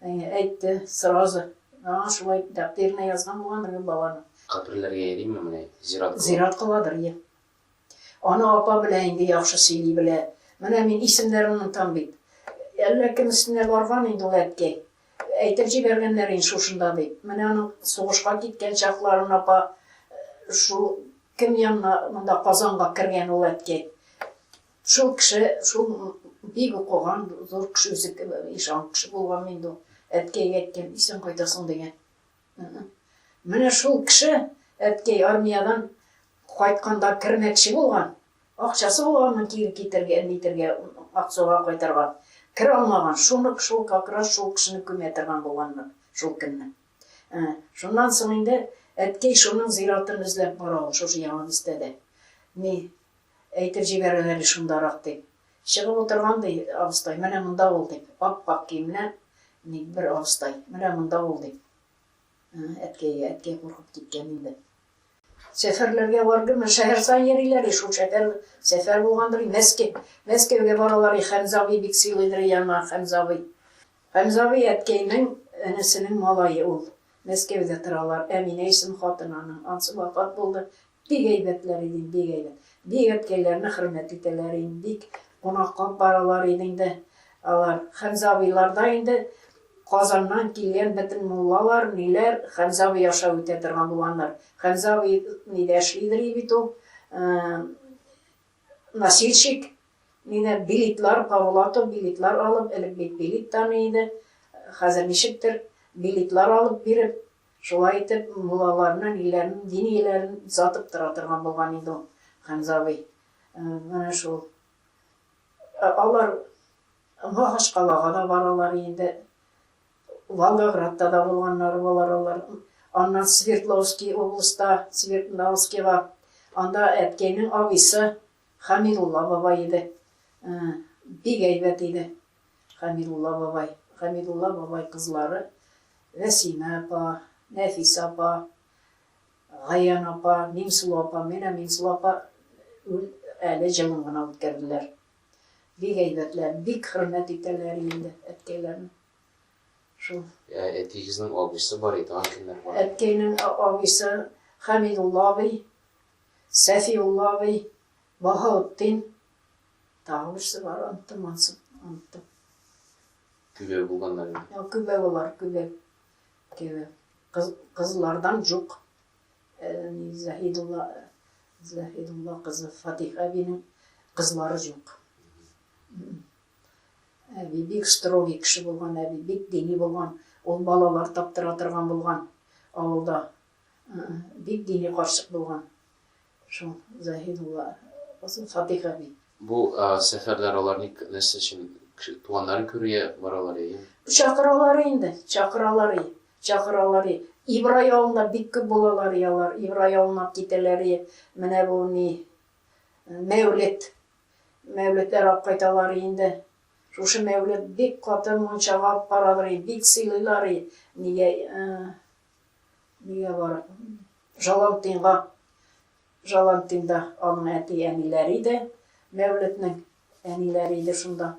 Әйе, әйтте, сразу. Аңа шулай тәкъдиренә язган булгандыр бит бабаның. Каберләргә йөримме менә, зират кыла? Зират кыладыр, йә. Аны апа белә инде, яхшы сөйли белә. Менә мин исемнәрен онытам бит. Әллә кем өстенә барган инде ул әткәй. Әйтеп җибәргәннәр инде шушында дип. Менә аның сугышка киткән чакларын апа шул кем янына, монда Казанга кергән ул әткәй. Шул кеше, шул бик укыган, зур кеше, үзе ишан кеше булган инде ул. Әткәйгә әйткән, исән кайтасың дигән. Менә шул кеше, әткәй армиядән кайтканда кермәкче булган, акчасы булганмы кире китергән, нитергә, Аксуга кайтырга. Керә алмаган, шуны шул как раз шул кешене күмә торган булганнар шул көнне. Шуннан соң инде әткәй шуның зиратын эзләп бара ул шушы Яңа бистәдә. Ни, Әйтеп җибәрер әле шундарак, дип. Чыгып утырган, ди, абыстай, менә монда ул, дип, ап-ак киемле ник бер абыстай, менә монда ул, дип. Әткәйгә, әткәй куркып киткән инде. Сәфәрләргә баргынмы, шәһәр саен йөриләр, ди, шул шәһәр, сәфәр булгандыр, ди, Мәскә, Мәскәүгә баралар, ди, Хәмзә абый бик сыйлыйдыр, ди, аны Хәмзә абый. Хәмзә абый, әткәйнең энесенең малае ул. Мәскәүдә торалар. Әминә исем хатыны аның, анысы вафат булды, Бик әйбәтләр иде, бик әйбәт. Бик әткәйләрне хөрмәт итәләр иде, бик кунаклап баралар иде инде алар. Хәмзә абыйлар да инде Казаннан килгән бөтен муллалар, ниләр, Хәмзә абый аша үтә торган булганнар. Хәмзә абый нидә эшлидер иде бит ул, носильщик, нидә, билетлар, Павлатов билетлар алып, элек бит билет таный иде, хәзер ничектер, билетлар алып биреп, Шулай итеп, муллаларны, ниләрен, диниләрен сатып тора торган булган инде ул Хәмзә абый. Менә шул. Алар Махачкалага да баралар инде. Волгоградта да булганнары булар алар. Аннан Свердловский областьта, Свердловскийга, анда әткәйнең абыйсы Хамидулла бабай иде. Бик әйбәт иде. Гамидулла бабай, Гамидулла бабай кызлары Вәсимә апа, Нәфисә апа, Гаян апа, Миңсылу апа, менә Миңсылу апа үл әле җылын гына үткәрделәр. Бик әйбәтләр, бик хөрмәт итәләр инде әткәйләрне. Шул. Ә әтиегезнең абыйсы бар иде, аны кемнәр бар? Әткәйнең абыйсы Хәмидулла абый, Сәфиулла абый, Баһаутдин, Тагы берсе бар, оныттым, ансы, оныттым. Көбе булганнар инде. Йо, көбе болар, көбе. Көбе. Кыз, кызлардан жук. Э, ни, Заһидулла, Заһидулла кызы Фатих әбинең кызлары жук. Әби бик строгий кеше булган, әби бик дини булган, ул балалар таптыра торган булган авылда. Бик дини карчык булган. Шул Заһид улы Касым Садыйк әби. Бу сәфәрләр алар ник, нәрсә өчен? Туганнарын күрергә баралар яме? Чакыралар инде, чакыралар, чакыралар. Ибрай авылында бик күп булалар ялар, Ибрай авылына китәләр. Менә бу ни Мәүлет. Мәүлетләр алып кайталар инде. Шушы Мәүлет бик каты мунчага алып баралар, бик сыйлыйлар. Нигә Нигә бар? Жалантинга, Жалантинда аның әти-әниләре иде, Мәүлетнең әниләре иде шунда.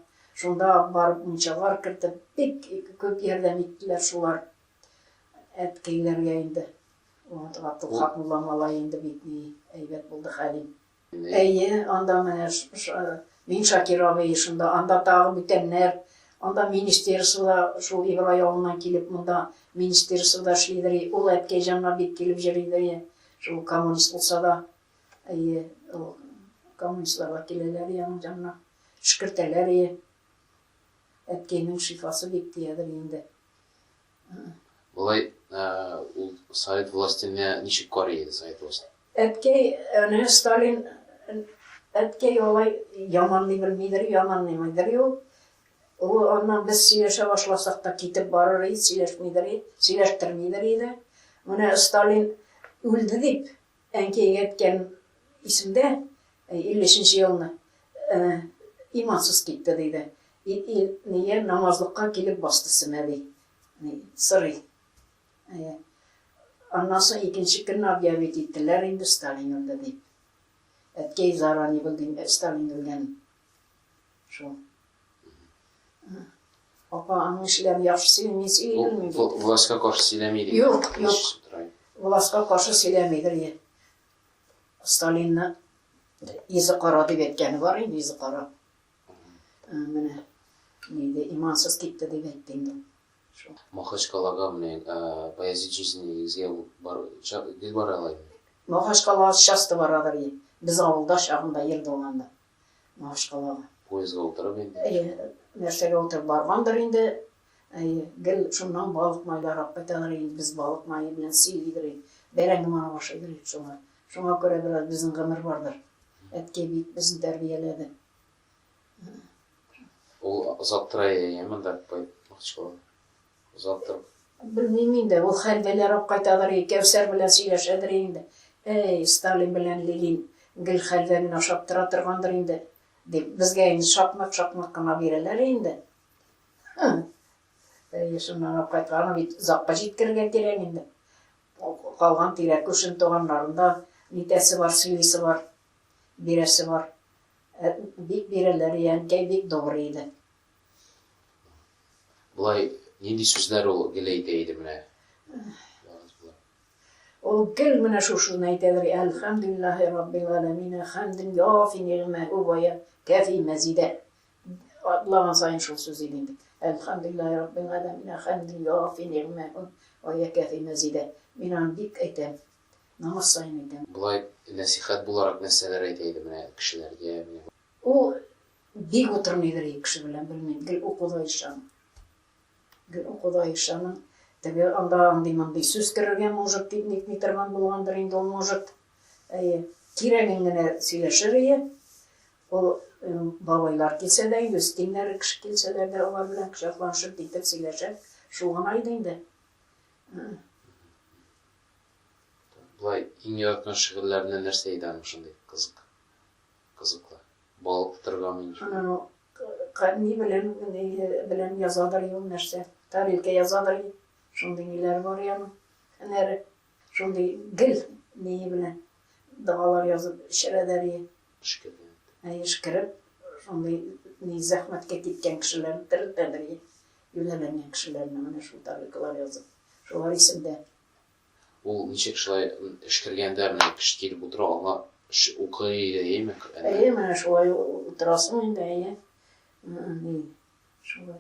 Шунда барып мунчалар кертеп, бик күп ярдәм иттеләр шулар. Әткәйләргә инде. Гатыл Хакмулла малай инде бик әйбәт булды хәлим. Әйе, анда менә мин Шакир абый, шунда анда тагы бүтәннәр, анда министерство да шул Ибрай авылыннан килеп монда министерствода эшлидер и ул әткәйҗанга бик килеп җөридер и шул коммунист булса да, әйе, ул коммунистлар да киләләр и аның җанына төшкертәләр и әткәйнең шифасы бик тиядер инде. Болай ул совет властене ничек карый иде совет власте? Әткәй, әнә Сталин, әткәй алай яманлый белмидер, яманлыймыйдыр юк. Ул аннан без сөйләшә башласак та китеп барыр иде, сөйләшмидер иде, сөйләштермидер иде. Менә Сталин үлде дип, Әнкәең әйткән исемдә, иллешенче елны имансыз китте, диде. Ил-ил-ния намазлыкка килеп басты семә, ди. Сорый. Әйе. Аннан соң икенче көнне объявить иттеләр инде, Сталин үлде, дип. Әткәй зара, ни булды, Сталин үлгән. Шул. Апа, аның эшләре яхшы сөйләми, мин сөйләмим. Властька каршы сөйләми дип. Юк, юк. Властька каршы сөйләмидер ие. Сталинны йөзе кара дип әйткәне бар инде, йөзе кара. Менә нидә имансыз китте дип әйтте инде. Махачкалага менә Баязит җизнигезгә бар гел бара алай. Махачкалага часто барадыр ие. Без авылда чагында ел булганда. Махачкалага. Поездга утырып инде? Әйе, нәрсәгә утырып баргандыр инде. Әйе, гел шуннан балык майларак кайталар инде, без балык мае белән сыер йөгерик, бәрәңге манып ашыйдыр идек шуңа. Шуңа күрә бераз безнең гомер бардыр. Әткәй бик безне тәрбияләде. Ул озак тора әйеме монда Махачкалага? Озаттым. Белмим инде, ул хәл бәләрәк кайтадыр и Кәүсәр белән сөйләшәдер инде. Әй, Сталин белән Ленин гел хәлвә генә ашап тора торгандыр инде, дип, безгә инде шакмык-шакмык кына бирәләр инде. Һм. Әйе, шуннан ук кайткан. Аны бит Закка җиткерергә кирәк инде. Калган тирә күршен туганнарын да нитәсе бар, сөйлисе бар, бирәсе бар. Ә бик бирәләр и әнкәй бик добрый иде. Болай нинди сүзләр ул гел әйтә иде менә? Ул гел менә шушыны әйтәдер, Әлхәмдүлиллаһи раббил галәмин, хәмден яфи нигъмәһү вә кәфи мәзидә. Атлаган сайын шул сүз иде инде. Әлхәмдүлиллаһи раббил галәмин, хәмден яфи нигъмәһү вә кәфи мәзидә. Мин аны бик әйтәм. Намаз сайын әйтәм. Болай нәсихәт буларак нәрсәләр әйтә иде менә кешеләргә? Ул Бик утырмыйдыр ие кеше белән, белмим, гел укуда ишан. Гел укуда ишаның. Теге анда андый-мондый сүз керергә может, дип нитми торган булгандыр инде ул может. Әйе, кирәген генә сөйләшер ие. Ул бабайлар килсә дә, инде өстеннәре кеше килсәләр дә, алар белән кочакланышып нитеп сөйләшә. Шул гына иде инде. Болай иң яраткан шигырьләренә нәрсә әйдә аның шундый кызык? Кызыклы. Бал тырган инде шул. Анау ка ни белән ни белән язадыр ул нәрсә. Тарелка язадыр ди. Шундый ниләр бар и аның. Һөнәре. Шундый гел ние белән догалар язып эчерәдәр и. Эшкерде. Әй эшкереп, шундый ни зәхмәткә киткән кешеләрне терелтәдер и. Юнәләнгән кешеләрне менә шул тарелкалар язып. Шулар исемдә. Ул ничек шулай эшкергәндә менә кеше килеп утыра аңа укый иде яме Коръәнне? Әйе, менә шулай утырасың инде, әйе. Ни, шулай.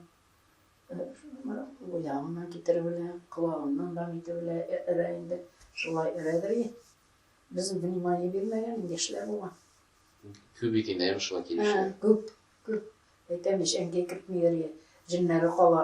Уягыннан китереп элә, колагыннан да итеп элә, өрә инде. Шулай өрәдер и. Без внимание бирмәгән инде яшьләр булган. Күп бит инде әйе шулай килүчеләр. Күп, күп. Әйтәм ич, әнкәй кертмиләр и. Җеннәре кала.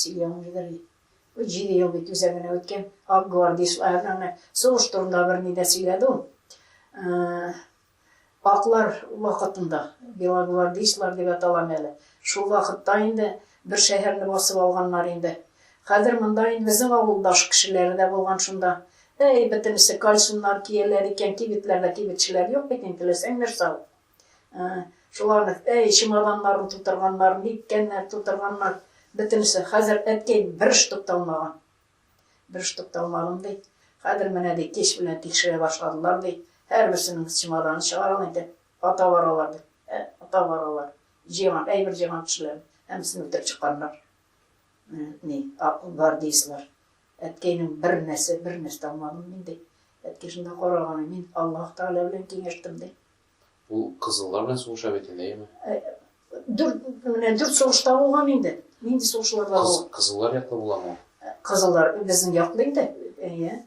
Сөйләмилдер. Бу җиде ел бит үзәк генә үткән. Ак гвардишлар, аны сугыш турында берни дә сөйләде ул. Э, аклар вакытында, белогвардишлар дип аталам әле. Шул вакытта инде бер шәһәрне басып алганнар инде. Хәзер монда инде безнең авылдаш кешеләре дә булган шунда. Әй, бөтенесе кальсоннар кияләр икән, кибетләрдә кибетчеләр юк бит инде, теләсәң нәрсә ал. Шуларны, әй, чемоданнарын тутырганнар, ниткәннәр, тутырганнар, бөтенесе. Хәзер әткәй бер штук та алмаган. Бер штук та алмадым, ди. Хәзер менә, ди, кич белән тикшерә башладылар, ди. Һәрберсенең чемоданы чыгарам инде. Ата баралар, ди. Ә, ата баралар. Җыйган, әйбер җыйган кешеләрен һәммәсен үтереп чыкканнар. Ни, гвардеецлар. Әткәйнең бер нәрсә, бер нәрсә алмадым мин, ди. Әткәй шунда караганы, мин Аллаһ Тәгалә белән киңәштем, ди. Ул кызыллар белән сугыша бит инде, әйеме? Дүрт, менә дүрт сугышта булган инде. Нинди сугышларда Кыз, ул? Кызыллар яклы буламы ул? Кызыллар безнең яклы инде. Әйе.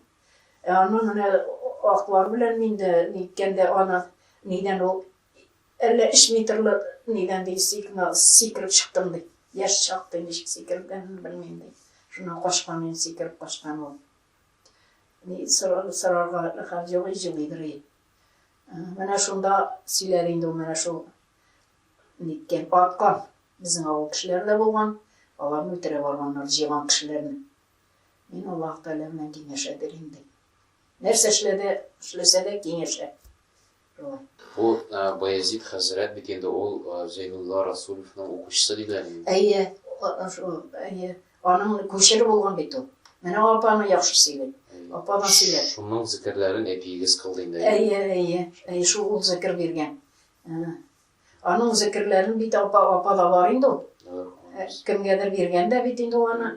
Ә аны менә аклар белән мин дә ниткәндә аны нидән ул әллә өч метрлы нидән ди сикна сикереп чыктым ди. Яшь чакта ничек сикергәнен белмим ди. Шуннан качкан ин сикереп качкан ул. Ни сорарга хәл юк җылыйдыр. Менә шунда сөйләр инде ул менә шул ниткән арткан. Безнең авыл кешеләре дә булган, аларны үтерә барганнар, җыйган кешеләрне. Мин Аллаһ Тәгалә белән киңәшәдер инде. Нәрсә эшләде, эшләсә дә киңәшә. Шулай. Бу Баязит хәзрәт бит инде ул Зәйнулла Расулевның укучысы диләр инде. Әйе, шул, әйе. Аның күчере булган бит ул. Менә апаңа яхшы сөйлә. Апаңа сөйлә. Шуның зекерләрен әбиегез кылды инде. Әйе, әйе. Әйе, шул ул зекер биргән. Аның зекерләрен бит апа, апа да бар инде ул. Кемгәдер биргән дә бит инде ул аны.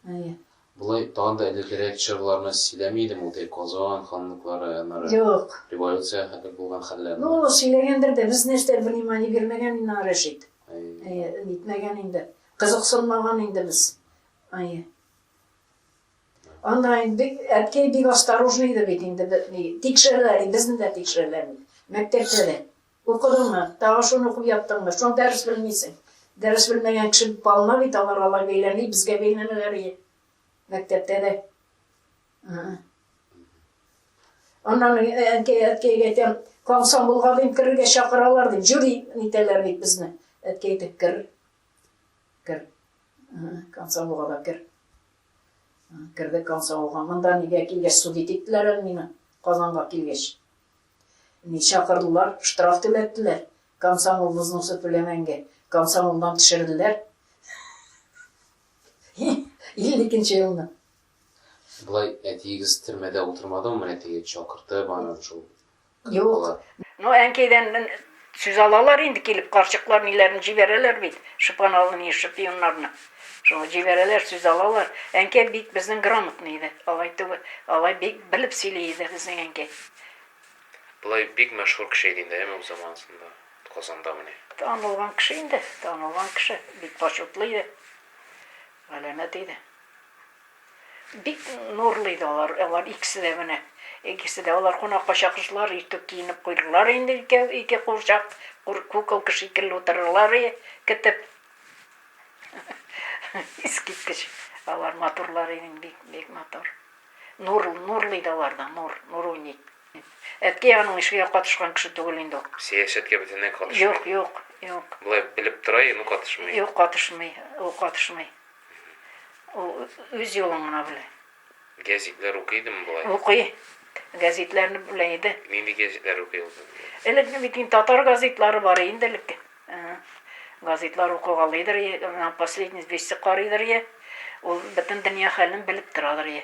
Әйе. Болай тагын да элегрәк чорларны сөйләми идеме ул Казан ханлыклары, аннары Юк. революция хәтле булган хәлләрне? Ну, сөйләгәндер дә, без нәрсә внимание бирмәгән инде Рәшит. Әйе, нитмәгән инде. Кызыксынмаган инде без. Әйе. Анда инде әткәй бик осторожный иде бит инде бетми. Тикшерәләр, безне дә тикшерәләр. Мәктәптә дә. Укыдыңмы? Тагы шуны укып яттыңмы? Шуны дәрес белмисең. Дәрес белмәгән кеше балына бит алар алай бәйләми, безгә бәйләнәләр иде. Мәктәптә дә. Аннан әткәй әткәйгә әйтәм, комсомолга дип керергә чакыралар дип, җюри итәләр бит безне. Әткәй әйтеп кер. Кер. Кансавылга да кер. Керде Кансавылга. Монда нигә килгәч судить иттеләр әле мине? Казанга килгәч. Ни чакырдылар, штраф түләттеләр. Комсомол взносы түләмәнгә. Комсомолдан төшерделәр. 52-нче елны. Болай әтиегез төрмәдә утырмадымы, менә теге чакыртып аны шул Юк. Ну, әнкәйдән мен сүз алалар инде килеп, карчыклар ниләрен җибәрәләр бит, шыпаналыни шпионнарны. Шуңа җибәрәләр, сүз алалар. Әнкәй бик безнең грамотный иде. Алай түгел, алай бик белеп сөйли иде безнең әнкәй. Болай бик мәшһүр кеше иде инде, әйеме, үз заманасында Казанда менә. Танылган кеше инде, танылган кеше, бик почетлы иде. Галәмәт иде. Бик нурлы иде алар, алар икесе дә менә. Икесе дә. Алар кунакка чакырсалар, иртүк киенеп куйдылар инде икәү, ике курчак, кур, куколка шикелле утырырлар и, кетеп. Искиткеч, алар матурлар иде, бик, бик матур. Нур, нурлы иде аларда, нур, нур уйный. Әткәй аның эшкә катышкан кеше түгел инде ул. Сәясәткә бөтенләй катышмый. Юк, юк, юк. Болай белеп тора, ну катышмый. Юк, катышмый, ул катышмый. Ул үз юлын гына белә. Гәзитләр укый идеме болай? Укый. Гәзитләрне белә иде. Нинди гәзитләр укый ул? Элек бит инде татар газетлары бар инде элек. Газетлар укыгалыйдыр, последний вести карыйдыр. Ул бөтен дөнья хәлен белеп торадыр.